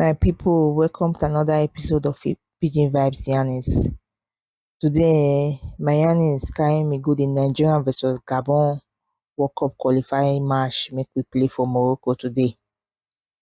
My people, welcome to another episode of Pidgin Vibes Yanis. Today, my Yanis carrying me good in Nigeria versus Gabon World Cup qualifying match make we play for Morocco today.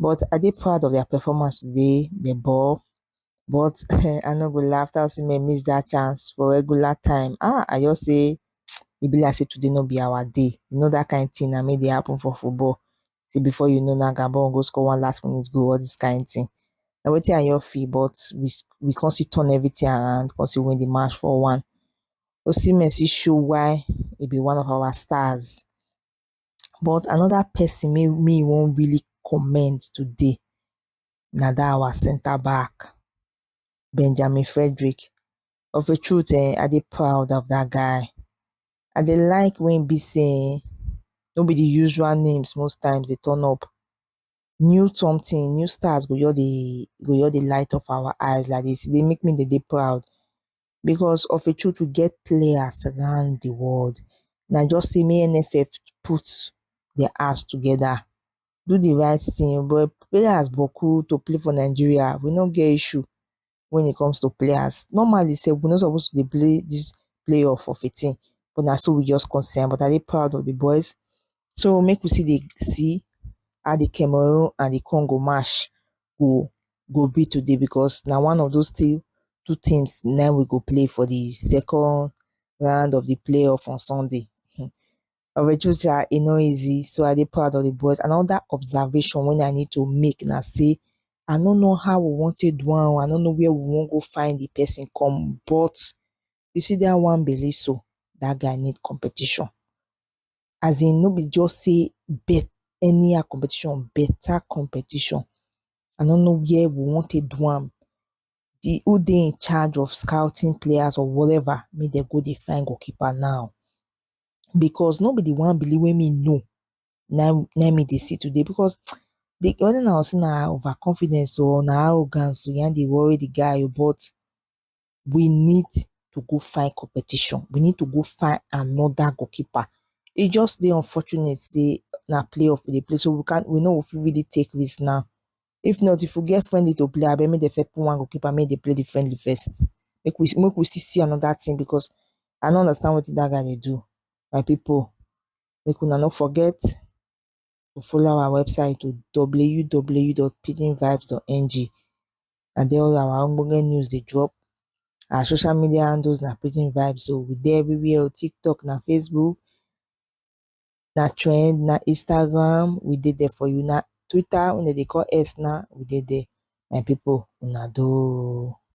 but I dey proud of their performance today. They ball, but I no go laugh. That Osimhen miss that chance for regular time. Ah, I just say e be like say today no be our day. You know that kind thing na make dey happen for football. See before you know na Gabon go score one last minute goal, all this kind thing. Na wetin I your feel, but we we come still turn everything around, come still win the match for one. Osimhen still show why he be one of our stars. but another person wey me wan really comment today na that our centre back Benjamin Frederick of a truth um I dey proud of that guy I dey like when e be sey um no be the usual names most times dey turn up new something new stars go just dey go just dey light up our eyes like this e dey make me dey dey proud because of a truth we get players around the world na just say make NFF put their ass together do the right thing but players boku to play for Nigeria we no get issue when it comes to players normally say we no suppose to dey play this playoff of a thing but na so we just concern but I dey proud of the boys so make we see dey see how the Cameroon and the Congo match go go be today because na one of those team two teams na im we go play for the second round of the playoff on Sunday. Hmm. Orejuja, e no easy, so I dey proud of the boys. Another observation when I need to make na say I no know how we wan take do am, I no know where we wan go find the person come, but you see that one belle so that guy need competition as in no be just say bet any competition better competition i don't know where we want to do am the who they in charge of scouting players or whatever make they go dey find goalkeeper now because no be the one believe wey me know now now me they see today because the whether na say na overconfidence or na arrogance na dey worry the guy but we need to go find competition. We need to go find another goalkeeper. It just the unfortunate say na playoff we dey play, so we can we know if we really take risk now. If not, if we get friendly to play, I bet me the first put one goalkeeper, make they play the friendly first. Make we make we see see another thing because I don't understand what that guy they do. My people, make we not forget. or follow our website oh www dot pidgin vibes dot ng and then all our ogbonge news dey drop. Our social media handles na pidgin vibes oh, we dey everywhere oh, tiktok na facebook, na trend, na instagram, we dey there for you, na twitter wey dem dey call X now, we dey there my people una doh.